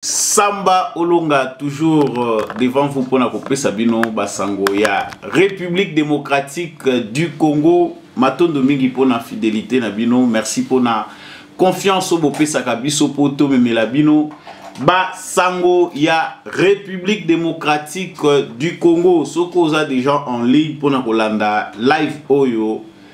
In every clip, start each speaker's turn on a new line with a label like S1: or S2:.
S1: Samba Olonga toujours euh, devant vous pona kopesa bino basango ya République démocratique euh, du Congo matondo mingi pona fidélité na bino merci pona confiance oyo bopesaka biso mpo tomemela bino basango ya République démocratique euh, du Congo soki oza déjà en ligne pona kolanda live oyo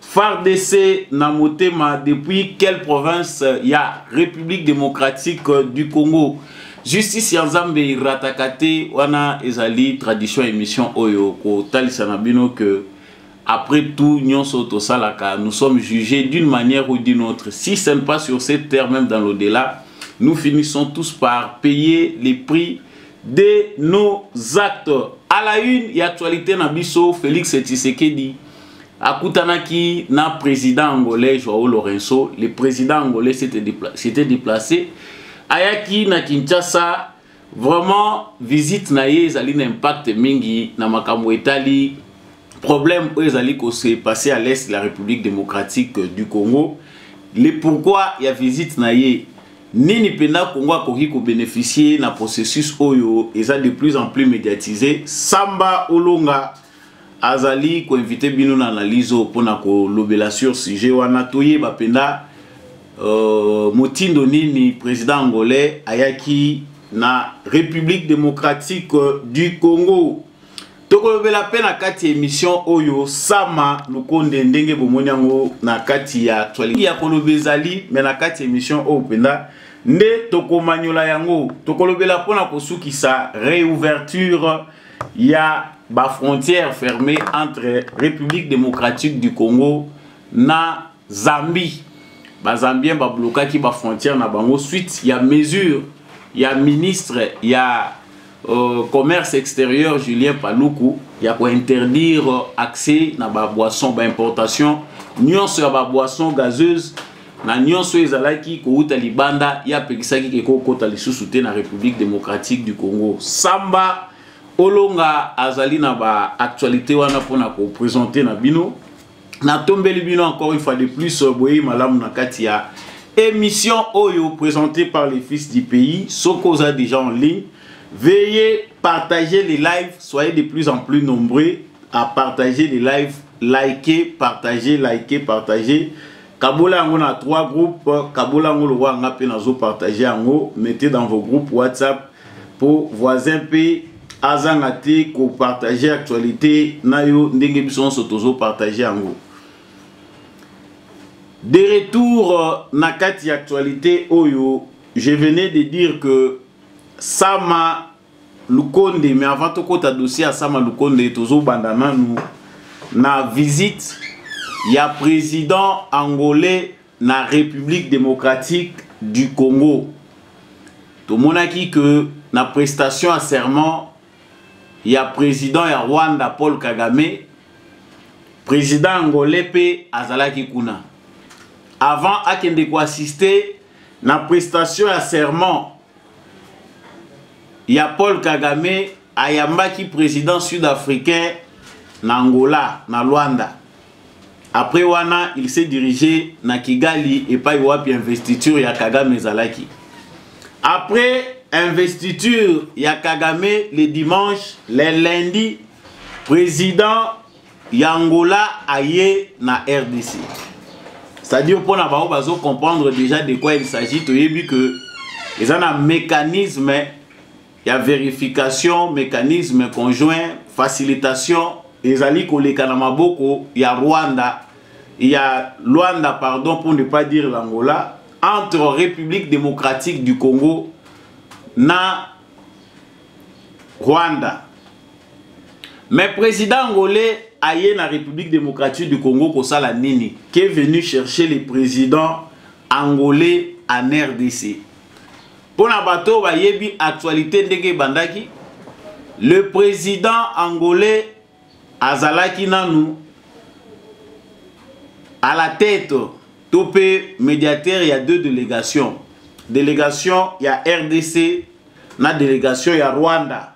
S1: FARDC na motema depuis quelle province ya République démocratique du Congo justice ya nzambe erataka te wana ezali tradition émission oyo kotalisa na bino que après tout nyonso tosalaka nous sommes jugés d'une manière ou d'une autre si ce n'est pas sur cette terre même dans l'au-delà nous finissons tous par payer les prix de nos actes à la une et actualité na biso Félix Tshisekedi akutanaki na président angolais joao lorenso le président angolais s'était déplacé ayaki na kinshasa vraiment visite na ye ezali na impact mingi na makambo etali problème oyo ezali kose passe à l'est la république démocratique du congo le pourquoi ya visite na ye nini mpenza congo akoki kobénéficie na processus oyo eza de plus en plus médiatise samba olonga azali ko inviter bino na analyse oyo mpona kolobela sur sujet wana toyeba mpenza euh, motindo nini président angolais ayaki na république démocratique du congo tokolobela mpe na kati ya émission oyo sama lukonde ndenge bomoni yango na kati ya actualité ya koloba ezali me na kati ya émission oyo mpenza nde tokomanyola yango tokolobela mpo na kosukisa réouverture Il y a ba frontière fermée entre République démocratique du Congo na Zambie. Ba Zambiens ba blokaki ba frontière na bango suite ya mesure ya ministre ya euh, commerce extérieur Julien Paluku ya ko interdire accès na ba boissons ba importation nyonso ya ba boissons gazeuses na nyonso oyo ezalaki kowuta libanda ye apekisaki ke kokota lisusu te na république démocratique du congo samba olonga azali na baactualité wana mpo na kopresente na bino natombeli bino encore une fois de plus euh, boyei malamu na kati ya émission oyo présentée par les fils du pays soki oza déjà en ligne veuillez partager les lives soyez de plus en plus nombreux à partager les lives liker partager liker partager kabola yango na trois groupe kabola yango lokola nga mpe nazo partage yango mettez dans vos groupes whatsapp mpo voisin mpe azanga te kopartage actualité na yo ndenge biso nyonso tozopartage yango de retour euh, na kati ya actualité oyo je venais de dire que sama lukonde mais avant tokota dossier ya sama lukonde tozobanda nanu na visite ya président angolais na république démocratique du congo tomonaki que na prestation ya serment ya président ya rwanda paul kagame président angolais mpe azalaki kuna avant akende koassiste na prestation ya serment ya Paul Kagame ayambaki président sud-africain na Angola na Luanda après wana il s'est dirigé na Kigali epai wapi investiture ya Kagame ezalaki après investiture ya Kagame le dimanche le lundi président ya angola aye na rdc c'est-à-dire mpo na bango bazo comprendre déjà de quoi il s'agit toyebi que eza na mécanisme ya verification mécanisme conjoint facilitation ezali koleka na maboko ya rwanda ya luanda pardon pour ne pas dire l'angola entre république démocratique du congo na Rwanda. Mais président angolais aye na République démocratique du Congo kosala nini? Qui est venu chercher les présidents angolais en RDC? Pour na bato bayebi actualité ndenge ebandaki, le président angolais azalaki nanu à la tête to mpe médiateur ya deux délégations délégation ya rdc na délégation ya rwanda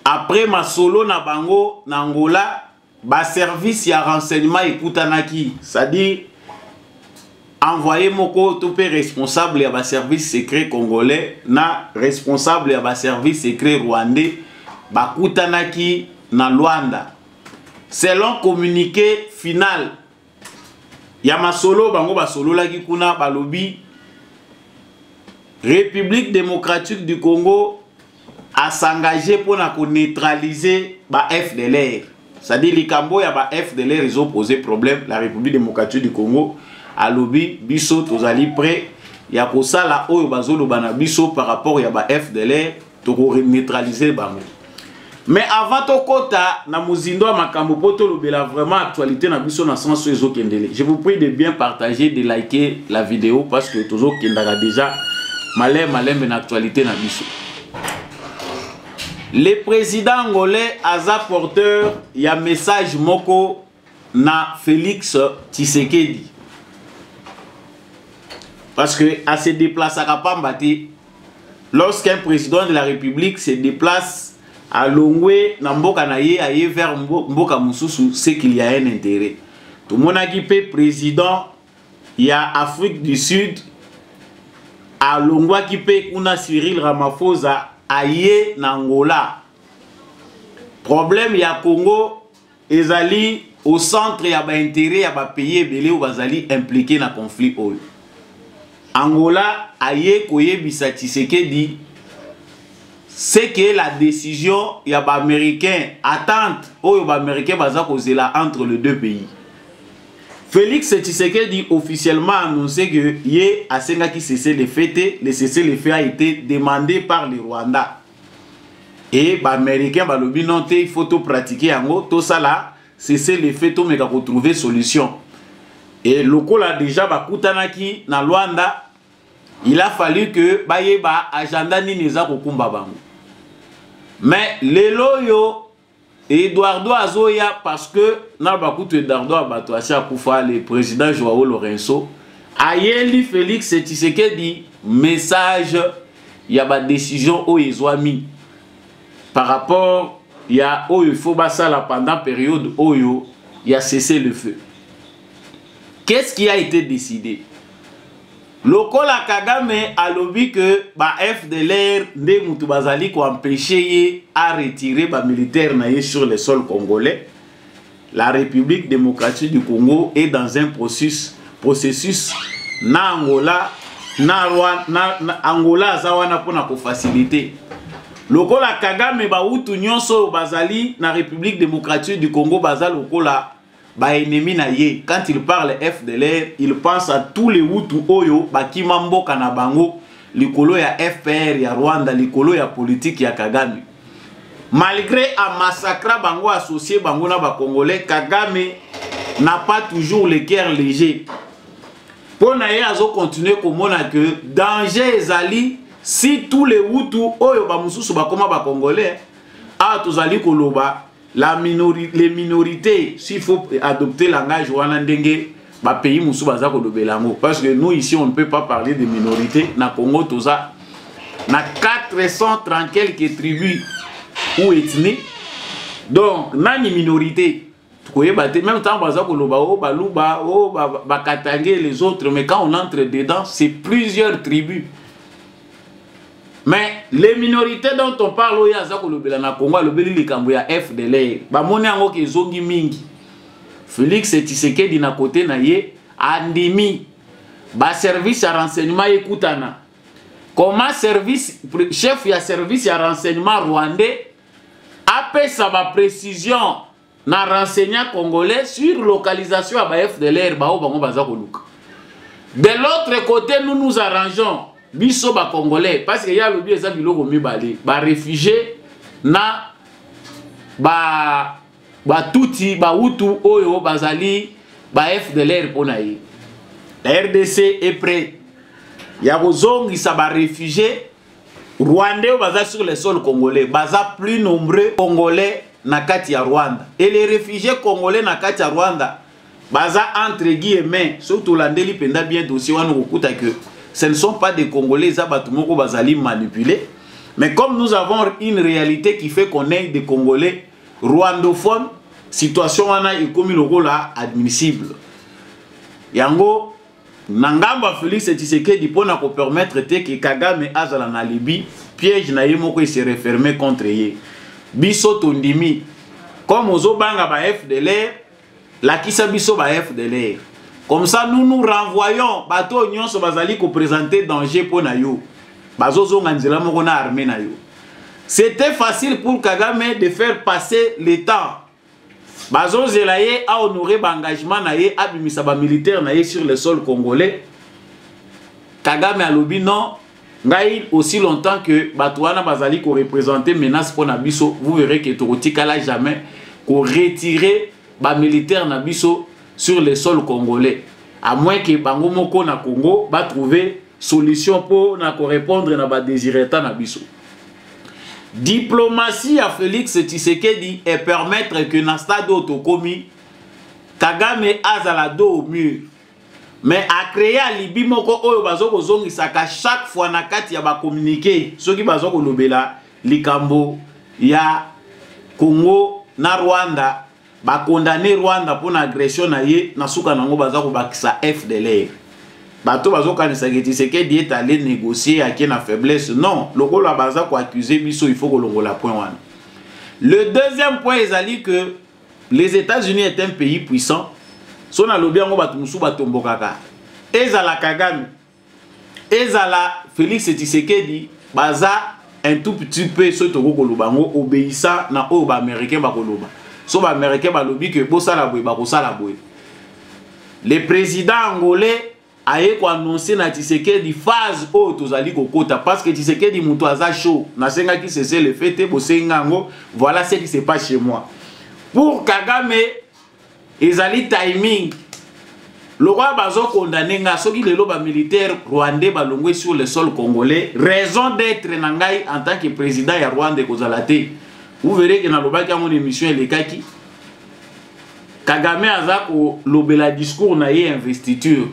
S1: après masolo na bango na angola baservice ya renseignement ekutanaki c'est-à-dire envoyé moko to mpe responsable ya baservice secret congolais na responsable ya baservice secret rwandais bakutanaki na luanda selon communiqué final ya masolo bango basololaki kuna balobi république démocratique du congo a s'engager mpo na ko neutraliser ba fdlr c'est-à-dire likambo ya ba fdlr ezo poser problème la république démocratique du congo alobi biso tozali prêt ya kosala oyo bazoloba na biso par rapport ya ba fdlr toko neutraliser bango mais avant tokɔta na mozindo ya makambo mpo tolobela vraiment actualité na biso na sens oyo ezokendele je vous prie de bien partager de liker la vidéo parce que tozokendaka déjà malembe malembe na actualité na biso le président angolais aza porteur ya message moko na félix tshisekedi parce que ase déplaçaka pamba te lorsqu'un président de la république se déplace alongwe na mboka na ye aye vers mboka mosusu ce qu'il y a un intérêt tomonaki mpe président ya afrique du sud alongwaki mpe kuna cyril ramaphosa aye na angola problème ya congo ezali au centre ya baintérêt ya bapays ebele oyo bazali implike na conflit oyo angola aye koyebisa tshisekedi ce que la décision ya baaméricain attente oyo baaméricain baza kozela entre les deux pays Felix Tshisekedi officiellement a annoncé que ye asengaki cesser le fait te, le cesser le fait a été demandé par le Rwanda. Et ba américains balobi non te, il faut to pratiquer yango, to sala cesser le fait to meka ko trouver solution. Et lokola déjà bakutanaki na Rwanda, il a fallu que bayeba agenda nini eza kokumba bango. Mais lelo yo Eduardo azoya parce que na bakutu Eduardo abato asi akufa le président Joao Lorenzo ayeli Félix Tshisekedi message ya ba décision oyo ezwami par rapport ya oyo il faut basala pendant période oyo ya cesser le feu. Qu'est-ce qui a été décidé? lokola kagame alobi ke ba fdlr nde motu bazali koempeshe ye a retire bamilitaire na ye sur le sol congolais la république démocratique du congo est dans un processus, processus na angola na, na, na angola aza wana mpo na kofacilite lokola kagame bautu nyonso oyo bazali na république démocratique du congo baza lokola ba ennemis na ye quand il parle FDLR il pense à tous les Hutu oyo bakima mboka na bango likolo ya FPR ya Rwanda likolo ya politique ya Kagame malgré a massacra bango associé bango na ba Congolais Kagame n'a pas toujours le cœur léger mpo na ye azo continuer komona que danger ezali si tous les Hutu oyo ba mosusu bakoma ba Congolais awa tozali koloba la minori, les minorités s'il faut adopter langage wana ndenge ba pays musu baza kolobela yango parce que nous ici on ne peut pas parler de minorité na Congo toza na 430 quelques tribus ou ethnies donc nani minorité koyeba te même ntango baza koloba o oh, baluba o oh, bakatange les autres mais quand on entre dedans c'est plusieurs tribus mais les minorités dont on parle oyo aza kolobela na congo alobeli likambo ya fdlr bamoni yango ke ezongi mingi félix tshisekedi na kote na ye andimi baservice ya renseignement ekutana comment service chef ya service ya renseignement rwandais apesa baprécision na renseigne congolais sur localisation ya ba fdlr baoyo bango baza koluka de l'autre côté nous nous arrangeons biso bacongolais parce que ye alobi eza biloko mibale barefugie na ba batuti bautu oyo bazali ba fdlr mpo na ye la rdc est prêt ya kozongisa barefugie Rwandais baza sur le sol congolais, baza plus nombreux congolais na kati ya Rwanda. Et les réfugiés congolais na kati ya Rwanda baza entre guillemets, surtout landeli penda bien dossier wana okuta que ce ne sont pas des congolais, za batu moko bazali manipuler. Mais comme nous avons une réalité qui fait qu'on est des congolais rwandophones, situation wana ekomi lokola admissible. Yango na ngambo ya Felix Tshisekedi mpo na kopermettre te ke Kagame azala na Libye, piège na ye moko ese referme contre ye. Biso tondimi comme ozobanga ba FDLR, lakisa biso ba FDLR. Comme ça nous nous renvoyons bato oyo nyonso bazali kopresente danger mpo na yo, bazozonga nzela moko na armée na yo. C'était facile pour Kagame de faire passer le temps bazozela ye a honore ba engagement na ye abimisa ba militaire na ye sur le sol congolais kagame alobi non ngai aussi longtemps que bato wana bazali korepresente menace mpo na biso vous verrez que tokotikala jamais koretire bamilitaire na biso sur le sol congolais à moins que bango moko na congo batrouve solution mpo na korepondre na badesireta na biso diplomatie ya félix tshisekedi epermettre que na stade oyo tokomi kagame azala do au mur mais acreye alibi moko oyo bazo kozongisaka chaque fois na kati ya bacommunike soki bazo kolobela likambo ya congo na rwanda ba condamner Rwanda pona agression na ye na suka nango baza ko bakisa FDLR bato bazokanisa ke Tshisekedi est allé négocier ake na faiblesse non lokola baza ko accuser biso il faut kolongola point wana le deuxième point ezali que les États-Unis est un pays puissant so nalobi yango bato mosusu batombokaka ezala Kagame ezala Felix Tshisekedi baza un tout petit peu soki tokoki koloba yango obeyisa na oyo baaméricain bakoloba so baaméricain balobi ke bosala boye bakosala boye le président angolais aye koannonce na tshisekedi phase oyo tozali kokota parce que tshisekedi moto aza chaud nasengaki sese le fait te bosengi yango voilà ce qui se passe chez moi pour kagame ezali timing lokola bazokondane ngai soki lelo bamilitaire rwandais balongwe sur le sol congolais raison d'être na ngai en tant que président ya rwanda ekozala te vous verrez ke nalobaki yango na émission elekaki kagame aza kolobela discours na ye investiture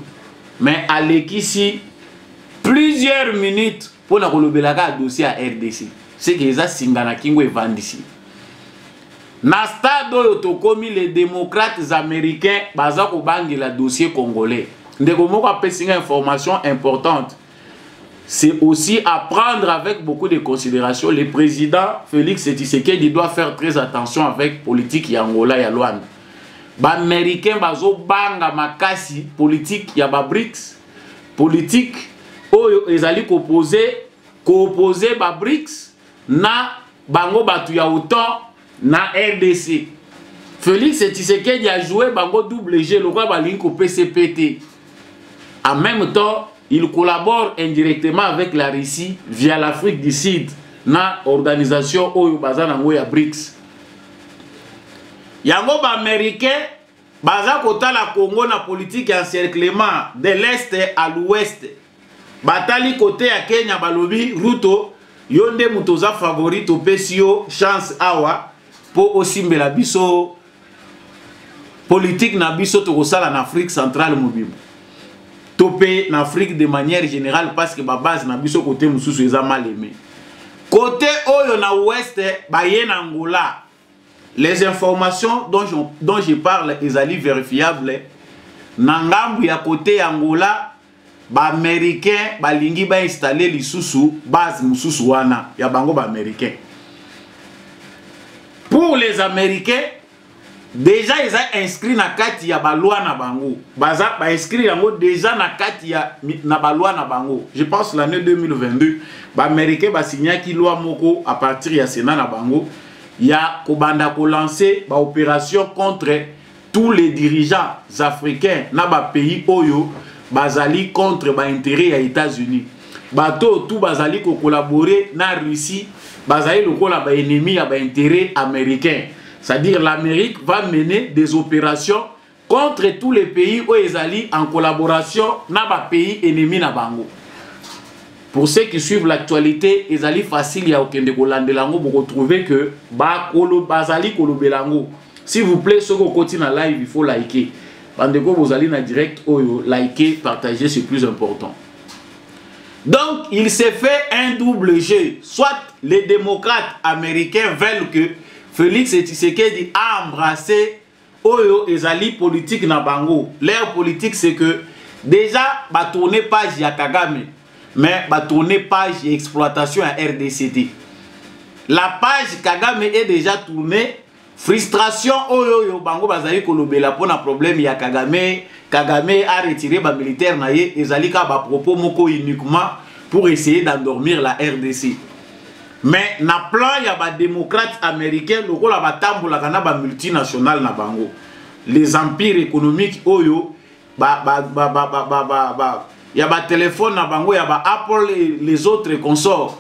S1: mais alekisi plusieurs minutes mpo na kolobelaka dossier ya rdc seke eza singa na kingo evandisi na stade oyo tokomi les démocrates américains baza kobangela dossier congolais ndeko moko apesi nga information importante c'est aussi à prendre avec beaucoup de considération le président félix tshisekedi doit faire très attention avec politique ya angola ya luanda baaméricain bazobanga makasi politique ya babrics politique oyo ezali kopose koopose babrics na bango batu ya autant na rdc félix tshisekedi ajoue bango double jeu lokola balingi kopesa mpe te en même temps il collabore indirectement avec la russie via l'afrique du sud na organisation oyo baza nango ya brics yango baaméricain baza kotala congo na politike ya encerclement de l'est à l'ouest batali kote ya kenya balobi ruto yo nde moto oza favori topesi yo chance awa mpo osimbela biso politike na biso tokosala na afrique centrale mobimba to mpe na afrique de manière générale parce que babase na biso kote mosusu eza maleme kote oyo na ouest baye na angola les informations dont je, dont je parle ezali verifiable na ngambu ya kote ya Angola baaméricain balingi bainstalle lisusu base mosusu wana ya bango baaméricain pour les américains deja eza inscrit na kati ya balwa na bango baza bainscrit yango deja na kati ya na balwa na bango je pense l'année 2022 baaméricain basignaki loi moko à partir ya sénat na bango ya kobanda ko lancer ba opération contre tous les dirigeants africains na ba pays oyo bazali contre ba intérêt ya États-Unis bato oyo tout bazali ko collaborer na Russie bazali lokola ba ennemis ya ba intérêt américains c'est-à-dire l'Amérique va mener des opérations contre tous les pays oyo ezali en collaboration na ba pays ennemis na bango pour ceux qui suivent l'actualité ezali facile ya kokende kolandela yango bokotrouve que bakolo bazali kolobela yango s'il vous plaît soki okoti na live il faut liker bandeko bozali na direct oyo liker partager c'est plus important donc il s'est fait un double jeu soit les démocrates américains veulent que Félix Tshisekedi a embrassé oyo ezali politique na bango leur politique c'est que déjà batourne page ya kagame mais batourne page ya exploitation ya rdc te la page kagame est déjà tournée frustration oyo oyo bango bazali kolobela mpona problème ya kagame kagame a retire bamilitaire na ye ezali kaka bapropos moko uniquement pour essayer d'endormir la rdc mais na plan ya ba démocrates américains lokola batambolaka na ba multinationales na bango les empires économiques oyo ba ba ba ba ba ba, ba, ba ya ba téléphone na bango ya ba Apple et les autres consorts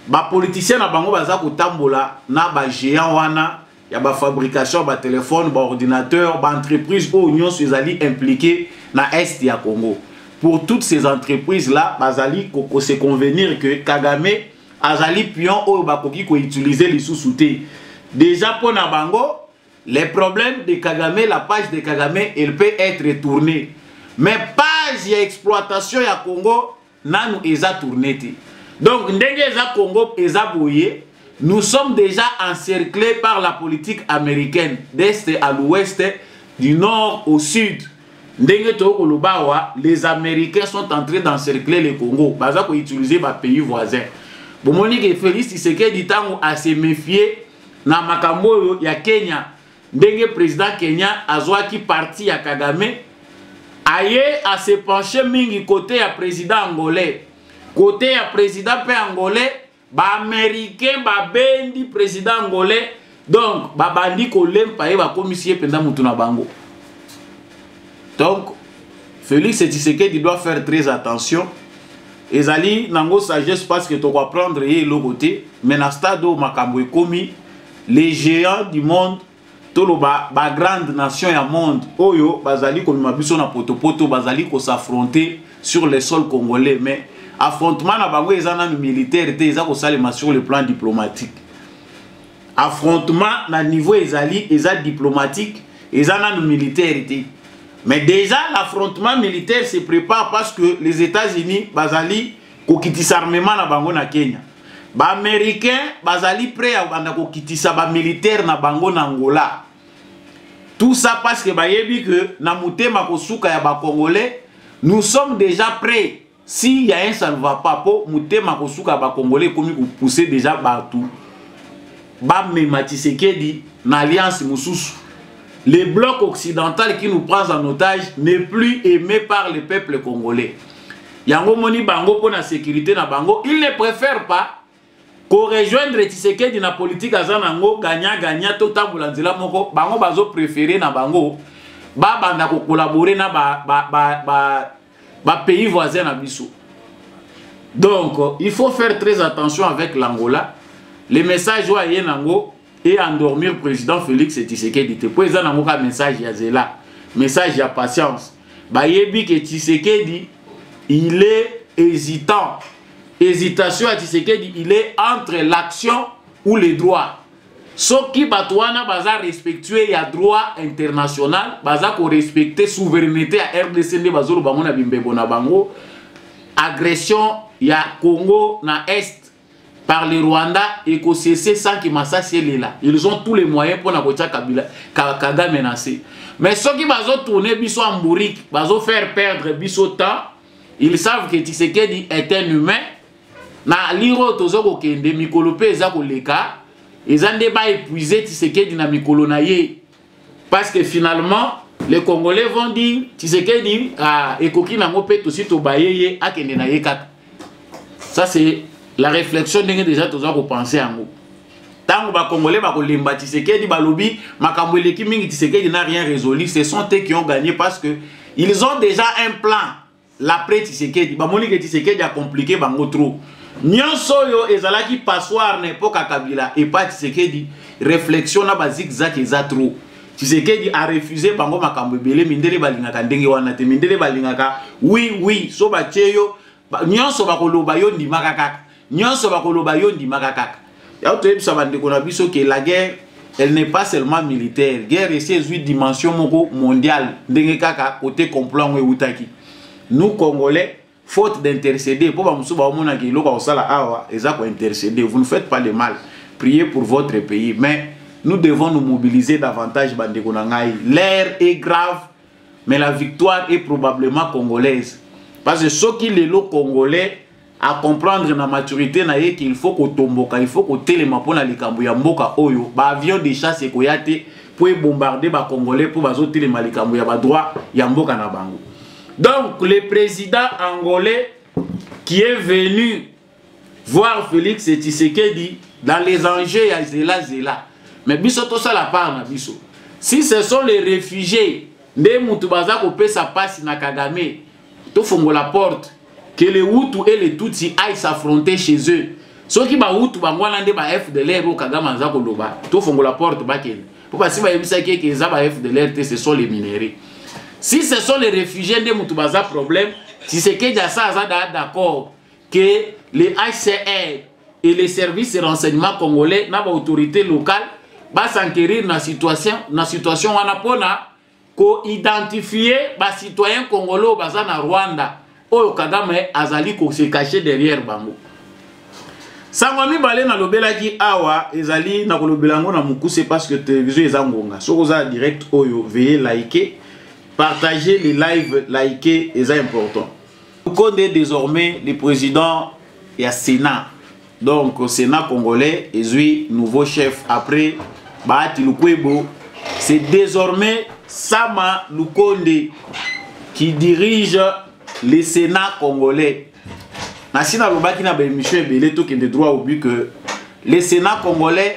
S1: ba politiciens na bango baza kotambola na ba géants wana ya ba fabrication ba téléphone ba ordinateur ba entreprise oyo nyonso ezali impliqué na est ya Congo pour toutes ces entreprises là bazali ko se convenir que Kagame azali pion oyo bakoki koutilize lisusu te deja mpo na bango les problèmes de kagame la page de kagame elle peut être tournée mais page ya exploitation ya congo nanu eza tourne te donc ndenge eza congo eza boye nous sommes déjà encerclés par la politique américaine d'est à l'ouest du nord au sud ndenge toyei koloba awa les américains sont entrés d'encercler le congo baza koutiliser bapays voisin bomoni ke félix tshisekedi ntango ase méfie na makambo oyo ya kenya ndenge président kenya azwaki parti ya kagame aye ase penche mingi kote ya président angolais kote ya président mpe angolais ba américain babendi président angolais donc babandi kolempa ye bakomisi ye mpenza motu na bango donc félix tshisekedi doit faire très attention ezali nango sagesse parce que tokoapprendre ye eloko te mais na stade oyo makambo ekomi les géants du monde toloba ba grande nation ya monde oyo bazali komema biso na potopoto bazali kosaffronte sur le sol congolais mais affrontement na bango eza nanu militaire te eza kosalema sur le plan diplomatique affrontement na niveau ezali eza diplomatique eza nanu militaire te mais déjà l'affrontement militaire se prépare parce que les états-unis bazali kokitisa armement na bango na kenya baaméricain bazali prêt ya kobanda kokitisa bamilitaire na bango na angola tout ça parce que bayebi que na motema kosuka ya bacongolais nous sommes déjà prêt si ya un ça ne va pas mpo motema kosuka ya bacongolais ekomi kopousse déjà bato bamema tisekedi na alliance mosusu le bloc occidental qui nous prend en otage n'est plus aimé par le peuple congolais yango moni bango mpo na sécurité na bango il ne préfère pas korejoindre tshisekedi na politike aza nango gagna gagna totambola nzela moko bango bazo préféré na bango babanda kokolabore na bapays ba, ba, ba, ba voisin na biso donc il faut faire très attention avec l'angola le message oyo aye nango et endormir président Félix Tshisekedi te po eza nango ka message ya zela message ya patience bayebi ke Tshisekedi il est hésitant hésitation ya Tshisekedi il est entre l'action ou le droit soki bato wana baza respectueux ya droit international baza korespecte souveraineté ya rdc nde bazoloba yango na bimbebo na bango agression ya congo na est par le Rwanda et qu'on cesse sans que Massassi est là. Ils ont tous les moyens pour Nakotia Kabila, Kagame menacé. Mais ceux qui vont tourner Bissot en bourrique, vont faire perdre Bissot temps, ils savent que Tshisekedi est un humain. Na liro tozo ko kende mikolo pe eza ko leka, eza nde ba épuiser Tshisekedi na mikolo na ye. parce que finalement les congolais vont dire tisekedi ah, ekoki nango mpe tosi tobaye ye akende na ye kaka ça c'est la réflexion ndenge déjà toza kopense yango ntango bacongolais bakolemba tisekedi balobi makambo eleki mingi tisekedi na rien résolu ce sont te qui ont gagné parce que ils ont déjà un plan L'après Tshisekedi, bamoni ke Tshisekedi a compliqué bango trop. Nyonso oyo ezalaki passoire na epoque ya Kabila et pas Tshisekedi, réflexion na ba zigzag eza trop. Tshisekedi a refusé bango makambo ebele mindele balingaka ndenge wana te. Mindele balingaka oui oui so batye yo nyonso bakoloba yo ndimaka kaka. Nyonso bakoloba yo ndimaka kaka. Yao toyebisa bandeko na biso que la guerre elle n'est pas seulement militaire. Guerre esi ezwi dimension moko mondiale ndenge kaka kote complot yango ewutaki. Nous Congolais faute d'intercéder mpo bamosusu baomonaka eloko ya kosala awa eza kointercéder. Vous ne faites pas de mal. Priez pour votre pays. Mais nous devons nous mobiliser davantage bandeko na ngai. L'air est grave mais la victoire est probablement congolaise. Parce que soki lelo congolais a comprendre na maturité na ye qu'il faut kotomboka il faut kotelema mpo na likambo ya mboka oyo baavion de chasse ekoya te mpo ebombarde bacongolais mpo bazotelema likambo ya badroit ya mboka na bango donc le président angolais qui est venu voir félix tshisekedi dans les enjeux ya zela zela mais biso tosala part na biso si ce sont les réfugiés nde motu baza kopesa mpasi na kagame tofongola porte que le hutu et le tutsi aille s'affronter chez eux soki bahutu bango wana nde ba fdlr oyo kagame aza koloba tofongola porte bakende mpo basi bayebisaki eke eza ba fdlr te ce sont les minerais si ce sont les réfugiés nde motu baza problème tisekedi asa aza daa d'accord que le hcr et les services de renseignement congolais na baautorité locale basenquerir na situation, na situation wana mpona ko identifier ba citoyens congolais oyo baza na Rwanda oyo Kagame azali ko se cacher derrière bango sango ya mibale nalobelaki awa ezali nakolobela yango na mokuse parce que télévision eza ngonga soki oza direct oyo veye like partager les lives like eza important konde désormais le président ya sénat donc sénat congolais ezwi nouveau chef après bahati lukwebo c'est désormais sama lukonde qui dirige le sénat congolais nasi nalobaki na baémission ebele tokende droit au but que le sénat congolais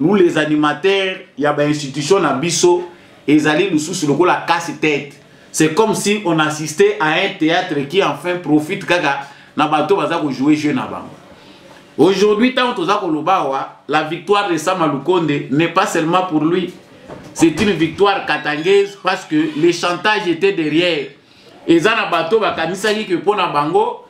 S1: nous les animateurs ya ba institution na biso ezali lususu lokola casse tête c'est comme si on assistait à un théâtre qui enfin profite kaka na bato baza ko jouer jeu na bango aujourd'hui ntango toza koloba awa la victoire de sama lukonde n'est pas seulement pour lui c'est une victoire katangaise parce que le chantage était derrière eza na bato bakanisaki ke mpo na bango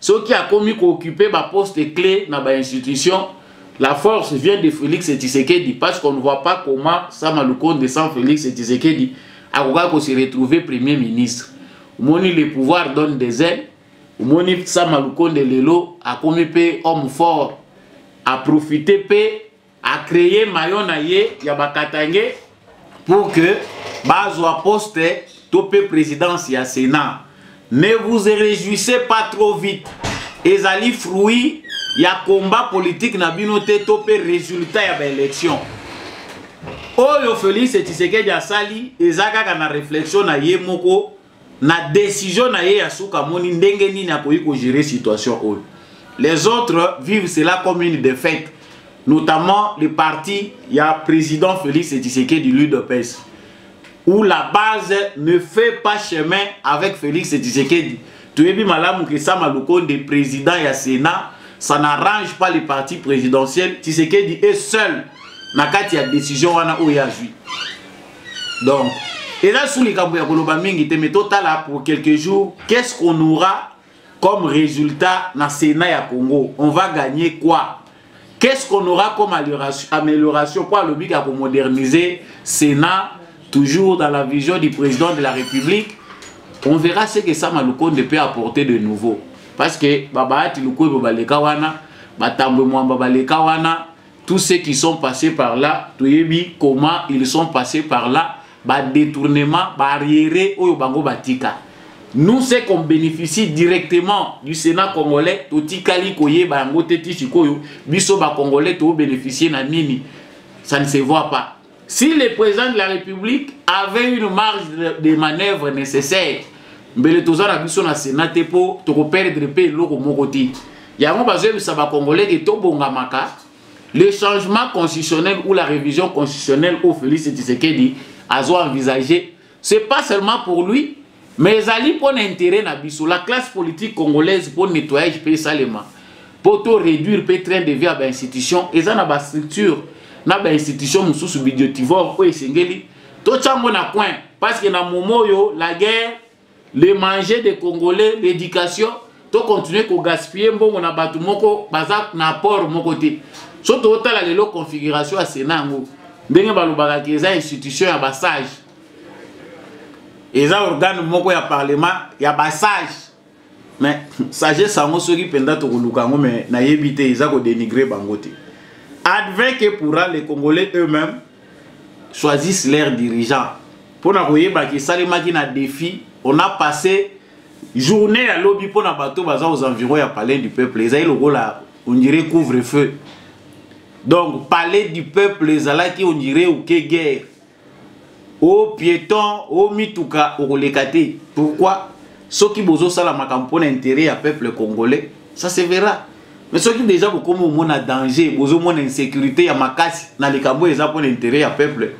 S1: soki akomi koocupe baposte clé na bainstitution la force vient de félix tshisekedi parce qu'on ne voit pas comment sama lukonde sans félix tshisekedi akokaki kose retrouver premier ministre omoni le pouvoir donne des ailes omoni sama lukonde lelo akomi mpe homme fort aprofite mpe a créer maillon na ye ya ba Katangais pour que bazwa poste to pe présidence ya Sénat. Ne vous réjouissez pas trop vite. Ezali fruit ya combat politique na bino te to pe résultat ya ba élection. Oyo Félix Tshisekedi asali eza kaka na réflexion na ye moko na decision na ye ya suka amoni ndenge nini akoki kogere situation oyo les autres vivent cela comme une défaite notamment le parti ya président félix tshisekedi l'udps où la base ne fait pas chemin avec félix tshisekedi toyebi malamu ke sama lukonde président ya sénat ça n'arrange pas le parti présidentiel tshisekedi est seul na kati ya décision wana oyo azwi donc eza su likambo ya koloba mingi te mais totala pour quelques jours qu'est ce qu'on aura comme résultat na sénat ya congo on va gagner quoi qu'est ce qu'on aura comme amélioration mpo alobi ka komoderniser sénat toujours dans la vision du président de la république on verra ce que sama lukonde peut apporter de nouveau parce que babaati lukwebo baleka wana batambwe mwamba baleka wana Tous ceux qui sont passés par là, toyebi comment ils sont passés par là, ba détournement, barrière oyo bango batika. Nous ceux qu'on bénéficie directement du Sénat congolais, totikali koye ba yango te ti sikoyo, biso ba congolais to bénéficier na nini. Ça ne se voit pas. Si le président de la République avait une marge de manœuvre nécessaire, mbele toza na biso na Sénat te po toko perdre pe eloko moko te. Yango bazoyebisa ba Congolais ke tobongamaka le changement constitutionnel ou la révision constitutionnelle au Félix Tshisekedi azo envisager c'est pas seulement pour lui mais ezali mpo na intérêt na biso la classe politique congolaise mpo nettoyage mpe esalema mpo to réduire mpe train de vie ya bainstitution eza na bastructure na bainstitution mosusu bidiotivore oyo esengeli totya yango na coin parce que na momo oyo la guerre le manger des congolais l'éducation to continuer ko gaspiller mbongo na bato moko baza na apport moko te so totala lelo configuration ya sena yango ndenge balobaka ke eza institution ya basage eza organe moko ya parlement ya basage mais sagesse yango soki mpenza tokoluka yango mais nayebi te eza kodenigre bango te advin ke pourra les congolais eux-mêmes choisissent leurs dirigeants mpo na koyeba ke esalemaki na défi on a passé journée ya lobi mpo na bato baza aux environs ya palais du peuple ezali lokola on dirait couvre feu donc palais du peuple ezalaki on dirait oke guerre o piéton o mituka okoleka te pourquoi soki bozosala makambo mpo na intérêt ya peuple congolais ça se verra mais soki deja bokomi omona danger bozomona insécurité ya makasi na likambo oyo eza mpona intérêt ya peuple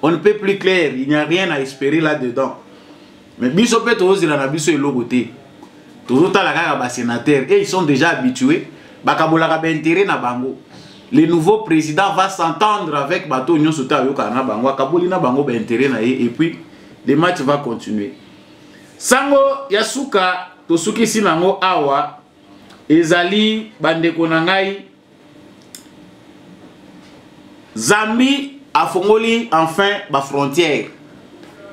S1: on ne peut plus clair il n'y a rien à espérer là dedans mais biso mpe tozozela na biso eloko te tozotala kaka basénateur et ils sont déjà habitués bakabolaka baintérêt na bango le nouveau président va s'entendre avec bato oyo nyonso te ayokaka na bango akaboli na bango baintérêt na ye et puis le match va continuer sango ya suka tosukisi nango awa ezali bandeko na ngai zambi afongoli enfin bafrontière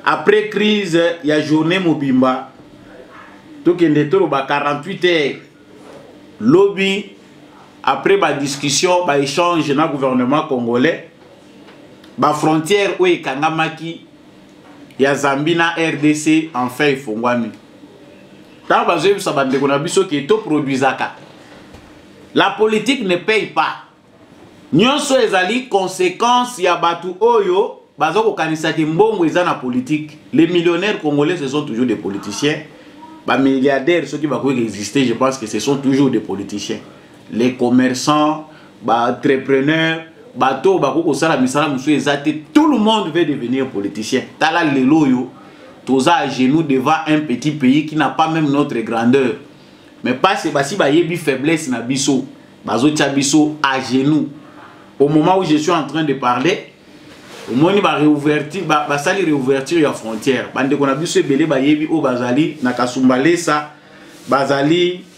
S1: après crise ya journée mobimba tokende toloba 48 heures lobi après badiscussion baéchange na gouvernement congolais bafrontière oyo ekangamaki ya zambi na rdc enfin efongwami ntango bazoyebisa bandeko na biso ke toproduisaka la politique ne paye pas nyonso ezali conséquence ya bato oyo baza kokanisa ke mbongo eza na politique les millionnaires congolais ce sont toujours des politiciens bamilliardaires soki bakoki koexiste je pense que ce sont toujours des politiciens les commerçants baentrepreneur bato oyo bakoki kosala misala mosusu eza te tout le monde veut devenir politicien tala lelo oyo toza à genoux devant un petit pays qui n'a pas même notre grandeur mais parce basi bayebi faiblesse na biso bazotya biso à genoux au moment où je suis en train de parler omoni bareouverture basali ba réouverture ya frontière bandeko na biso ebele bayebi oyo bazali na kasumbalesa bazali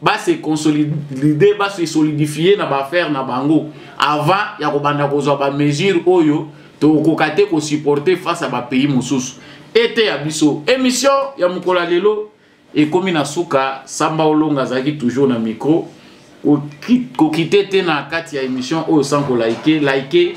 S1: ba se consolider ba se solidifier na ba faire na bango avant ya kobanda kozwa ba mesures oyo tokoka te ko supporter face à ba pays mosusu ete ya biso émission ya mokolo ya lelo ekomi na suka samba olonga azalaki toujours na micro kokite te na kati ya émission oyo sans ko like like